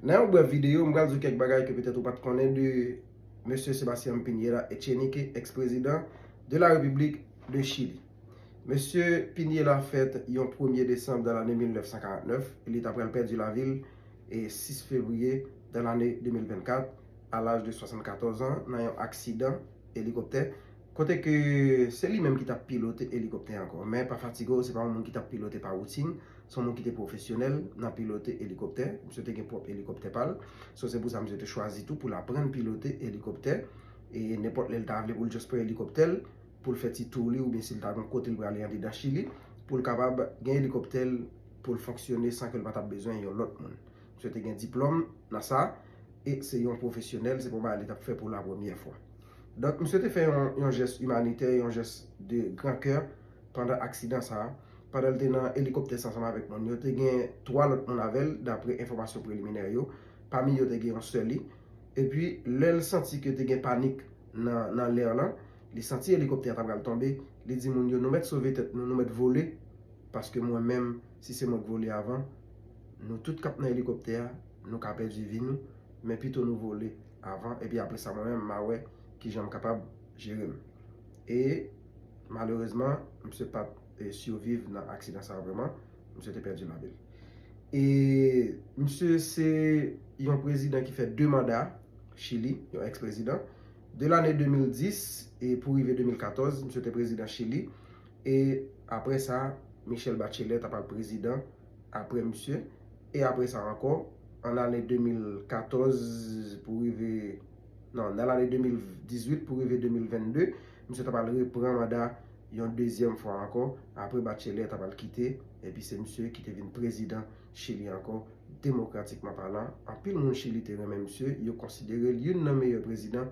Nan yon brèf videyo, m pral di w kèk bagay ke petèt ou pat konnen de Mesye Sebastian Piñera Echenique, ex prezidan de la Repiblik de Chili. Mesye Piñera fèt yon premye desanm dan lane 1949, e li ta pral pèdi lavi l 6 fevriye dan lane 2024, a laj de 74 an, nan yon aksidan elikoptè. Kote ke se li menm ki tap pilote elikoptè ankò. Men pa fatige w, se pa yon moun ki tap pilote pa woutin, se yon moun ki te pwofesyonèl nan pilote elikoptè. Misye te gen pwòp elikoptè pa l. So se pou sa misye te chwazi tou pou l aprann pilote elikoptè. E nenpòt lè l ta vle pou l just pran elikoptè l, pou l fè ti tour li oubyen si l ta gen kote l prale andedan Chili, pou l kapab gen elikoptè l pou l fonksyone san ke l pa tap bezwen yon lòt moun. Misye te gen diplòm nan sa, e se yon pwofesyonèl, se pa yon bagay li t ap fè pou la premyè fwa. Donk, misye te fè yon jès imanitè, yon jès de gran kè pandan aksidan sa a. Pandan li te nan elikoptè sa a ansanm avèk moun yo, te gen 3 lòt moun avè l, dapre enfòmasyon preliminè yo. Pami yo te gen yon sè li. Epi, lè l santi ke te gen panik nan lè lan, li santi elikoptè a ta pral tonbe, li di moun yo, Nou mèt sove tèt nou, nou mèt vole, paske mwen menm, si se mwen k vole avan, Nou tout k ap nan elikoptè a, nou ka pèdi vi nou, men pito nou vole avan, epi apre sa mwen menm m a wè ki jan m kapab jere m. E, malerezman, misye pa t siviv nan aksidan sa a vrèman, misye te pèdi lavi l. E, misye se yon prezidan ki fè 2 manda Chili, yon ex-prezidan. De lane 2010 e pou rive 2014, misye te prezidan Chili. E, apre sa, Michelle Bachelet ta pral prezidan. apre misye, e apre sa ankò, an lane 2014 pou rive, nan, nan lane 2018 pou rive 2022, misye ta pral repran manda yon dezyèm fwa ankò, apre Bachelet ta pral kite, epi se misye ki te vin prezidan Chili ankò, demokratikman palan, anpil moun Chili te renmen misye, yo konsidere l youn nan meyè prezidan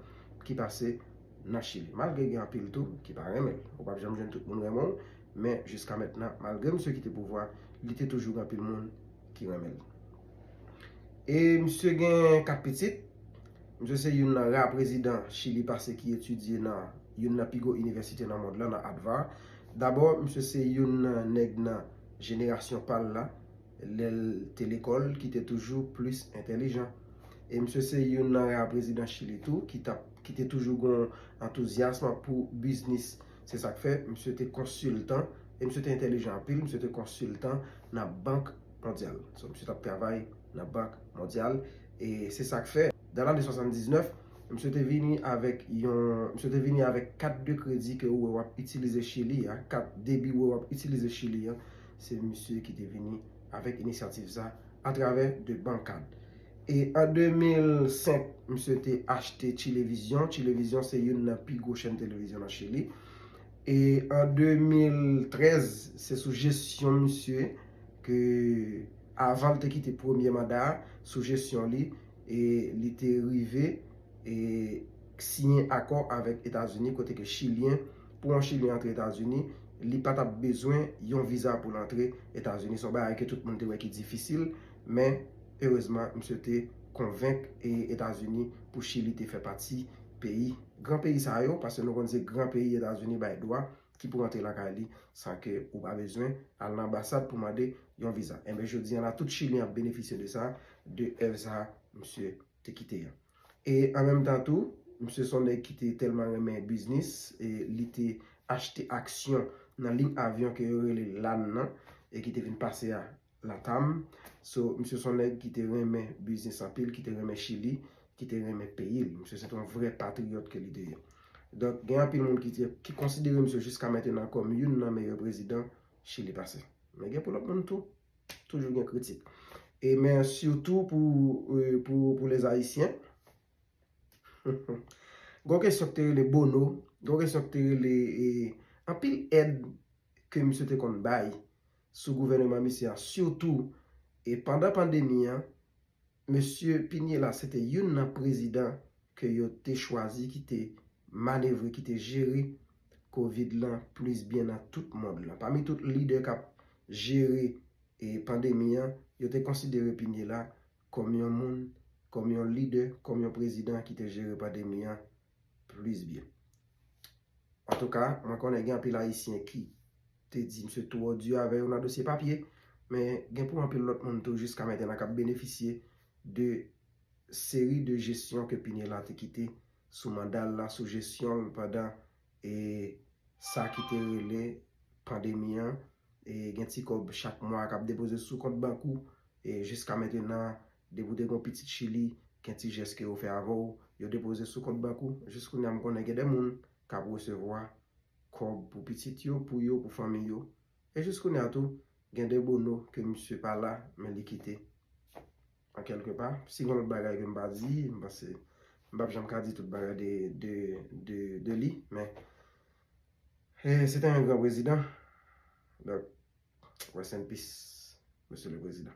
ki pase nan Chili. Malgre gen anpil tou ki pa renmen l. Ou pap janm jwenn tout moun renmen w, men jiska mentnan malgre misye kite pouvwa li te toujou gen anpil moun ki renmen l. E misye gen 4 pitit, misye se youn nan ra prezidan Chili pase ki etidye nan youn nan pi gwo inivèsite nan mond lan nan Advar. Dabò misye se youn nan nèg nan jenerasyon pa l la lè l te lekòl ki te toujou plis entèlijan. E misye se youn nan ra prezidan Chili tou ki te toujou gen antouzyasm pou biznis. Se sa k fè, misye te konsiltan, e misye te entelijan anpil, misye te konsiltan nan Bank Mondyal. So, misye t ap travay nan Bank Mondyal. E se sa k fè, dan lane 79, misye te vini avèk yon, misye te vini avèk kat de kredi ke ou wè w ap itilize Chili a, kat debi ou wè w ap itilize Chili a, se misye ki te vini avèk inisyativ sa, atravè de Bancard. E an 2005, misye te achte Chilevisión. Chilevisión se youn nan pi gwo chèn televizyon nan Chili. E an 2013, se sou jesyon misye ke, avan li te kite premye manda a, sou jesyon li, e li te rive e siyen akò avèk Etazini kote ke Chilyen, pou yon Chilyen antre Etazini, li pa t ap bezwen yon viza pou l antre Etazini. Se yon bagay ke tout moun te wè ki difisil, men. Erezman misye te konvenk Etazini pou Chili te fè pati peyi gran peyi sa yo, paske nou konn se gran peyi Etazini bay dwa ki pou rantre lakay li san ke ou pa bezwen al nan anbasad pou mande yon viza. Enben jodi an la tout Chilyen ap benefisye de sa, de èv sa misye te kite an. E an menm tan tou, misye son nèg ki te tèlman renmen biznis, li te achte aksyon nan lign avyon ke yo rele LAN nan e ki te vin pase a Latam, so misye son nèg ki te renmen biznis anpil, ki te renmen Chili, ki te renmen peyi l. Misye se te yon vrè patriyòt ke li te ye. Donk gen anpil moun ki di, ki konsidere misye jiska mentenan kòm youn nan meyè prezidan Chili pase. Men gen pou lòt moun tou, toujou gen kritik. E men sitou pou les Haïtiens, gon kesyon ki te rele Bono, gon kesyon ki te rele anpil èd ke misye te konn bay sou gouvèneman misye a sitou e pandan pandemi an mesye Piniella se te youn nan prezidan ke yo te chwazi ki te manevre ki te jere covid lan plis byen nan tout mond lan pami tout lidè kap jere e pandemi an yo te konsidere Piniella kòm yon moun kòm yon lidè kòm yon prezidan ki te jere pandemi an Plis byen. Antouka, mwen konnen gen anpil Ayisyen ki te di msye twò di avè yo nan dosye papye, men gen pou anpil lòt moun tou jiska mentena k ap benefisye de seri de jesyon ke Pinella te kite sou manda l la, sou jesyon l pandan e sa ki te rele pandemi an, e gen ti kòb chak mwa k ap depoze sou kont bank ou, e jiska mentena Depi w te gon pitit chili gen ti jès ke yo fè avè w yo depoze sou kont bank ou jis kounya m konnen gen de moun kap resevwa kòb pou pitit yo pou yo pou fanmi yo e jis kounya tou gen de bono ke misye pa la men li kite an kèlke pa si gon lòt bagay ke m pa di m panse m pap janm ka di tout bagay de de de de li men e se te yon gran prezidan donk rest in peace mesye le prezidan.